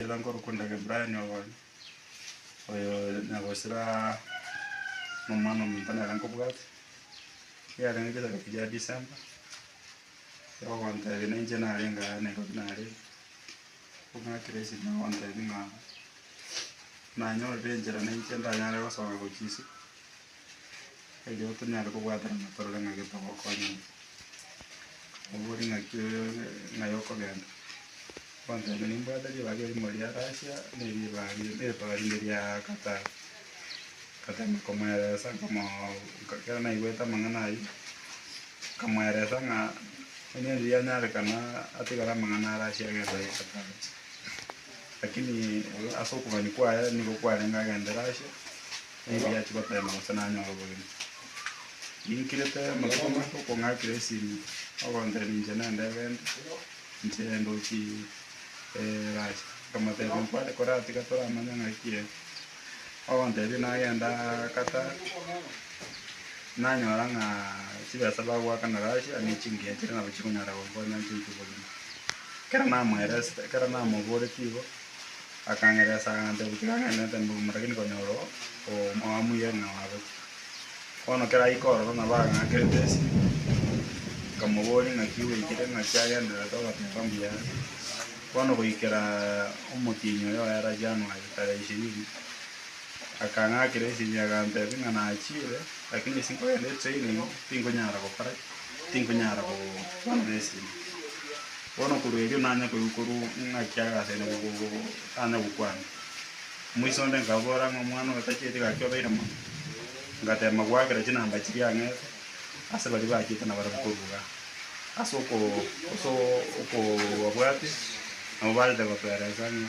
Ela nkorokwa Ndagebrani obonya, oyo nyagosira nomwana omonto nere nkobwate, yarenge chisake chiria December, ogontebia ninche narenge aa Nairobi narenge, ong'akire ase erio nagontebia ng'a nanyorire enchera ninche ndanyare gosoa gochia isiko. Erio tonyare kobwaterana torore ng'a gete ogokonya ng'a obo ore ng'aki ng'ai okogenda. Ogoteba nimbwate ribaga erimo ria Russia na eribaga ri- eribaga rinde ria Qatar. Nkatema komweresa nkamoo nka ekero naigwete amang'ana ayio, nkamweresa ng'a onye onde yanyarekana atigare amang'ana a Russia agende aye Qatar. Lakini ase okogania kwaye nigo kwarenge agende Russia, Nigo achia goteema gose nanyore obogima. Ninkirete amatuko make okong'akera esimi, ogontebia inche nende egento, inche ndochi Russia. Nkamotebia nkware koraa tiga toramanye ng'aki ere. Ogontebia nagenda Qatar, nanyora ng'a chibesa bagoakana Russia ne chingiya chire nabo chikonyara gonkonya inche intwe bogima. Ekero namoereste, ekero namoboretie igo. Akangeresa agantebia, Tigang'enete mbogima, rakini konyora omoamuye ng'a nagochia. Bono kera aike ororo nabo agang'akerete esiri. Nkamoboria, Ng'aki gweikire? Ng'aki agendererete ogoteeba mbuya are? Bono goikera omotienyi oyo oera Januari tarehe ishirini, akang'akera esiri, agantebia ng'a nachiire, rakini ase nkogenda etraining, tinkonyara gokora ki? Tinkonyara gobarera esiri. Bono korwa erio nanya koigwa korwa ng'aki ase ere tanya gokwana. Omoisa onde nkabora ng'a omwana oyo tacheti gaki obeire mono. Ngatema goakera chinamba chiria ang'ete ase baria bachete na barabwo korwa igaa. Ase okoo ase okobabwate nabo barente gotoereesa ng'a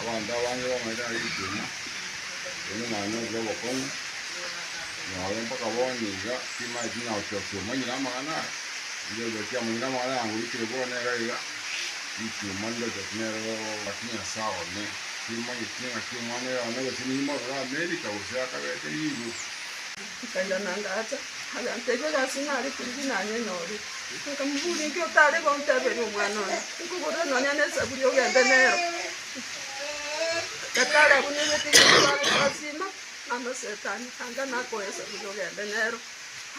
Abanto abange bamanyete ng'a ritina rinde naye nori r'obokong'u, nabo mpaka bono iga timaeti na ochokia omonyene amang'ana aya, onde ochokia omonyene amang'ana aya ngoikire bono nere iga, ritima rinde ochokia nere ake Nyasae one, timanyeti ng'aki omwana oyo one gose nimorore Amerika gose akabete Europe. Akairana ngaacha, aganteebia, Gasi nare kurubi nanye nyore? Nkamoboria, Inki otare gonteeberia omwana one? Nkogorere nonya nesaburi ogende nero. Gatari abwo nibwete Yeso are kosima, amasetani anga nakoe esaburi ogende nero.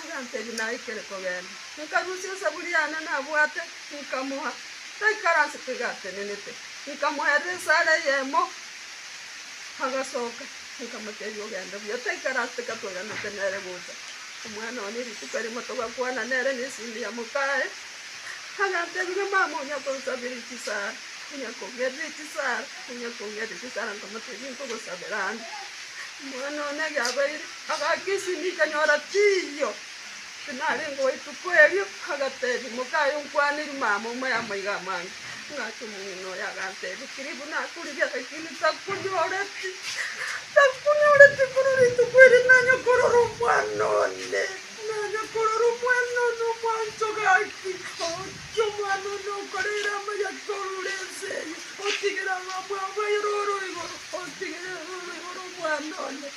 Aganteebia, Naikire kogenda. Nkarusia esaburi yane nabwate, nkamoa. Taikaransete iga atenenete, nkamoerera esara eyemo. Agasoka, nkamotebia, Ogende buya, taikara ase teka tweganete nere gocha. Omwana one rituko erimo togakwana nere na esindi ya mokaye, agantebia, ng'a mama onya konsabera echisara, onya kongerera echisara, onya kongerera echisara, nkamotebia, nkogosabera ande. Omwana one egeabeire, agaaka esindi nkanyora tiiyo. Tinarengeo ituko erio, agatebia, Moka aye onkwane erimo amo amo y'amaiga amange. Ng'acha omong'ina oye agantebia, Kiribu nakoririe agachenu takonyoreti, takonyoreti korwa rituko erio nanya korora omwana one, nanya korora omwana one omwancho. Gaki ogokia omwana one okorere amaya korwa ense eye, otigere abamwabo baye roro igoro, otigere roro igoro omwana one.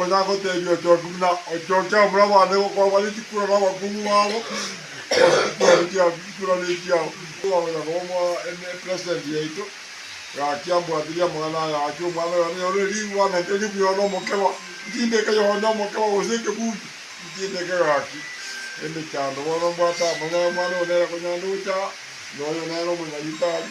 Onye agotebia ochoke buna ochoke abura abande gokoba ritikura nabakungu babo, gose riturani chiabo ritikura nechiao, twagocha koba mo ene president yaito, gaki ambwatirie amang'ana aya gaki omwana oyo nanyore riirwa na nke ribuya one omokeba, ntindeke yone omokeba gose ekebundu, ntindeke gaki emechando bono mbwate amang'ana omwana oyo nere konyande gocha aa, noyo nere omonyagitari.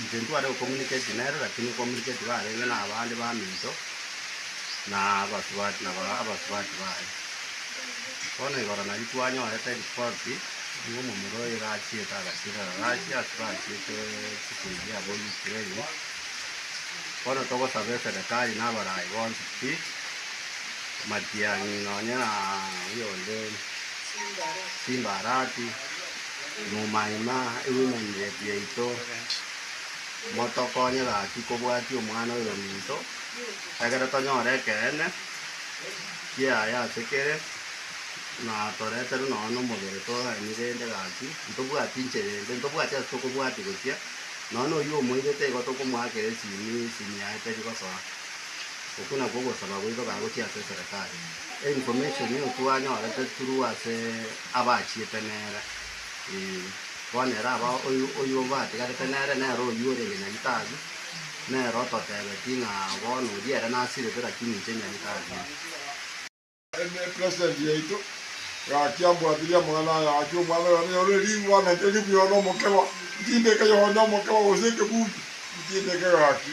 Inche ntware gocommunicate nere lakini gocommunicate barenge na abande baminto na abasubati na ba abasubati baye. Bono igoro nario twanyorete ripoti ng'a omomura oyo iga achiete agachirera Russia ase bachiete chikuri eria abwo Ukraine. Bono togosaba eserekari na abarayi bonsi pi, matiang'i nonye na oyonde Simba Arati. Momaima ebimanyire biaito, motokonye gaki kobwatia omwana oyo ominto, ekiagera tonyore ekeene kiaye ase kere, na toreterwe nonya nomobere toraenie rende gaki, ntobwati inche rende, ntobwati ase tokobwatia gochia, nonya na oyio omoirete igo tokomoakera esimi, esimi yaye teri gosoa. Okwo nakwo ogosaba goito kagochia ase eserekari. Information eyio twanyorete through ase. abachiete nere, ee, bono ere aba oyio oyio obatigarete nere nere oyio orenge Nyagitari, nere ototebeti ng'a bono oria ere nasirete lakini inche Nyagitari ee. Eme president yaito, gaki ambwatirie amang'ana aya, gaki omwana oyo nanyore ribu, ananchanie buya one omokeba, ntindeke Yohane omokeba, gose ekebundu, ntindeke gaki.